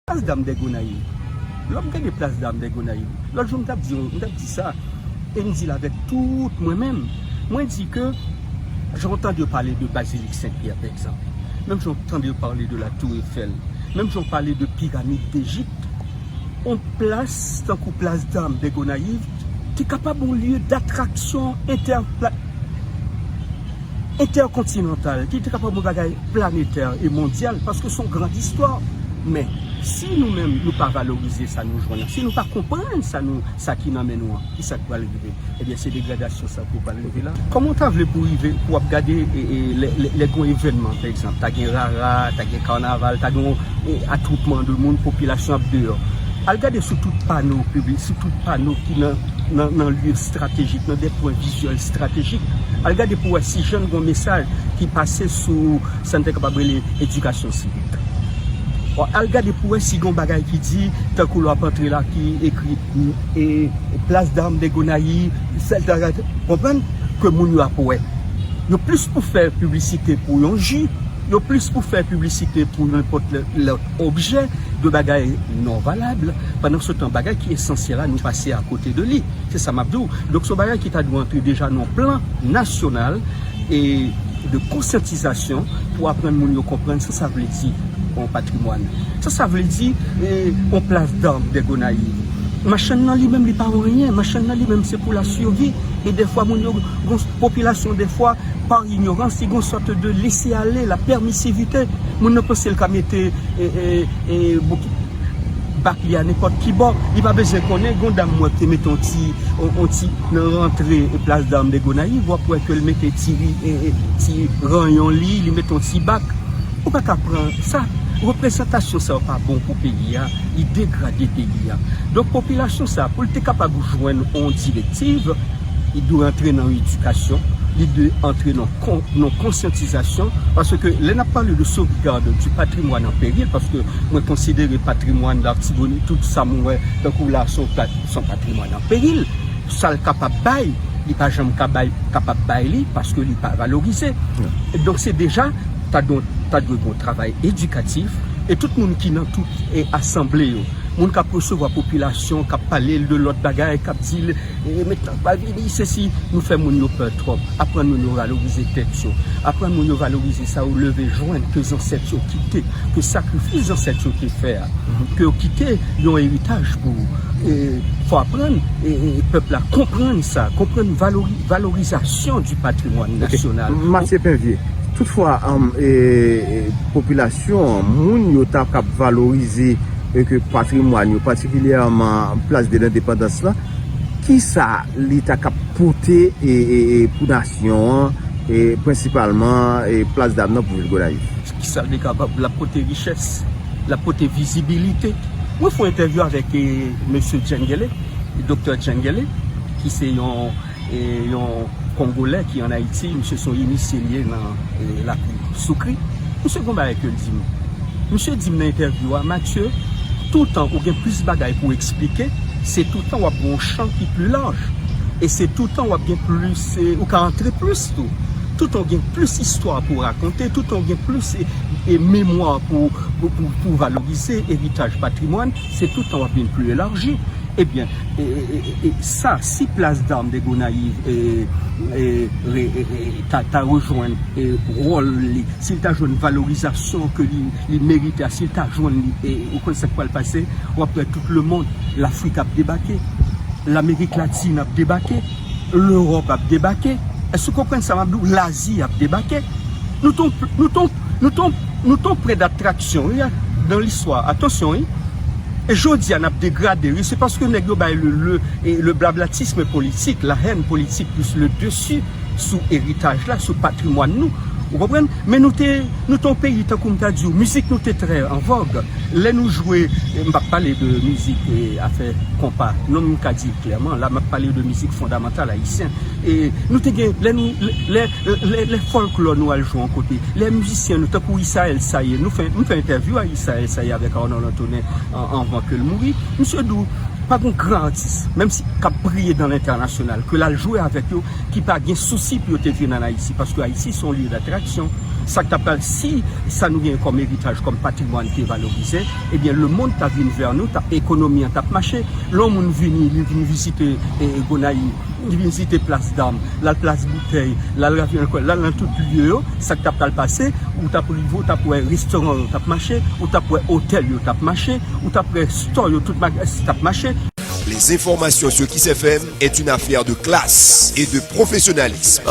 Plas dam dè Gonayiv. Lè m gade plas dam dè Gonayiv, lòt jou m t ap di yon, m t ap di sa, e m di l avèk tout mwen menm, mwen di ke jan w tande yo pale de Bazilik Sen Pyè pa egzanp, menm jan w tande yo pale de la Tour Eiffel, menm jan w pale de Piramid Dejip, yon plas tankou plas dam dè Gonayiv, ki kapab yon lye datraksyon entèkontinantal, ki te kapab yon bagay planetè e mondyal, paske son gran distwa. Men, si nou menm nou pa valorize sa nou jwenn an, si nou pa konprann sa ki nan men nou an, ki sa k pral rive? Ebyen, se degradasyon sa tou pral. Koman w ta vle pou rive pou w ap gade lè gen yon evènman pa egzanp ta gen rara, ta gen kanaval, ta gen yon atwoupman de moun popilasyon ap deyò. Al gade sou tout pano pibli, sou tout pano ki nan lye estratejik, nan de pwen vizyèl estratejik. Al gade pou wè si jann gen yon mesaj ki pase sou sa n te kapab rele edikasyon sivik. Al gade pou wè si gen yon bagay ki di tankou lwa pantre la ki ekri Place d'Armes de Gonaïves. Sèl sa ka konprann ke moun yo ap wè. Yo plis pou fè piblisite pou yon ji, yo plis pou fè piblisite pou nenpòt lòt objè, de bagay non valab. Pandansetan, bagay ki esansyèl la, nou pase akote de li. Se sa m ap di w. Donk, se yon bagay ki ta dwe antre deja nan yon plan nasyonal. e de konsyantizasyon pou aprann moun yo konprann sa sa vle di yon patrimwàn, sa sa vle di yon plas dam dè Gonayiv. Machann nan li menm li pa anyen, machann nan li menm se pou la survi e dèfwa moun yo gon popilasyon dèfwa pa inyorans li gon sòt de lese ale la pèmisivite moun nan panse l ka mete e e e e. bak li a nenpòt ki bò li pa bezwen konnen gon dam mwen te mete yon ti yon ti nan rantre plas dam de gonayiv wap wè kel mete ti ti ranyon li li mete yon ti bak ou pa ka pran sa reprezantasyon sa yo pa bon pou peyi a li degrade peyi a donk popilasyon sa poul te kapab jwenn yon direktiv li dwe antre nan edikasyon li dwe antre nan. nan konsyantizasyon paske lè nap pale de sovgad di patrimwàn an peril paske mwen konsidere patrimwàn l'artibonite tout sa mwen wè tankou la son patrimwàn an peril sal kapab bay li pa janm kapab bay li paske li pa valorize donk se deja ta dwe gon travay edikatif e tout moun ki nan tout asanble yo moun kap resevwa popilasyon kap pale l de lòt bagay kap di l Remet nan pal pi di sesi nou fè moun yo pè twòp aprann moun yo valorize tèt yo aprann moun yo valorize sa yo leve jwenn ke zansèt yo kite ke sakrifis zansèt yo te fè a ke yo kite yon eritaj pou fò aprann pèp la konprann sa konprann valori valorizasyon di patrimwàn nasyonal. Matye Penvye, tout fwa popilasyon moun yo ta kab valorize. e ke patrimwàn yo, patikilyèman plas de lendepandans lan, ki sa li ta kab pote pou nasyon an, e prensipalman plas dam nan pou vil Gonayiv? Ki sa li kapab? L ap pote richès, l ap pote vizibilite. Mwen fè yon entèvyou avèk mesye Djengele, doktè Djengele, ki se yon E yon kongolè ki an Ayiti, misye son inisye li ye nan lakou soukri, misye gon bagay kel dim. Misye dim nan entèvyou a, Mathieu, toutan ou gen plis bagay pou eksplike, se toutan wap gen yon chan ki pli laj. E se toutan wap gen plis, ou ka antre plis tou. Toutan ou gen plis istwa pou rakonte, toutan ou gen plis memwa pou valorize eritaj patrimwàn. Se tout tan wap vin pli elarji. Ebyen e sa si plas dam de Gonayiv ta rejwenn wòl li, si l ta jwenn valorizasyon ke li merite a, si l ta jwenn li, ou konn sa k pral pase? Wap wè tout lemond, Lafrik ap debake, Lamerik Latin ap debake, Lewòp ap debake. Èske w konprann sa map di w? Lazi ap debake. Nou t on. Nou t on nou t on prè datraksyon wi dan listwa atansyon wi e jodia nap degrade wi se paske nèg yo bay le le e le blablatisme politik la hèn politik plis le desi sou eritaj la sou patrimwàn nou ou konprann men nou te nou t on peyi tankou m ta di w mizik nou te trè an vòg lè nou jwe m pap pale de mizik e afè konpa non m ka di w klèman la map pale de mizik fondamantal ayisyen e nou te gen lè nou lè. Lè fòlklò nou al jwe yon kote, lè mizisyen nou tankou Isael Saye, nou fè, m fè entèvyou a Isael Saye avèk Arnold Antonin an anvan ke l mouri, misye di w pa gen gran atis, menm si k ap briye dan lentènasyonal, ke l al jwe avèk yo, ki pa gen sousi pou yo te vin ann Ayiti, paske Ayiti se yon lye datraksyon. Sa k ta pral, si sa nou genyen kòm eritaj, kòm patrimwàn te valorize, ebyen lemonn ta vin vè nou, ekonomi an t ap mache. Lè yon moun vini, li vini vizite Gonayiv. Li vizite plas dam, l al plas boutèy, l al ravyon lekòl, l al nan tout lye yo, sa k t ap pral pase, ou t ap rive ou t ap wè restoran yo t ap mache, ou t ap wè otèl yo t ap mache, ou t ap wè store yo, tout magasins yo t ap mache. Les informations sur Kiss FM est une affaire de classe et de professionnalisme.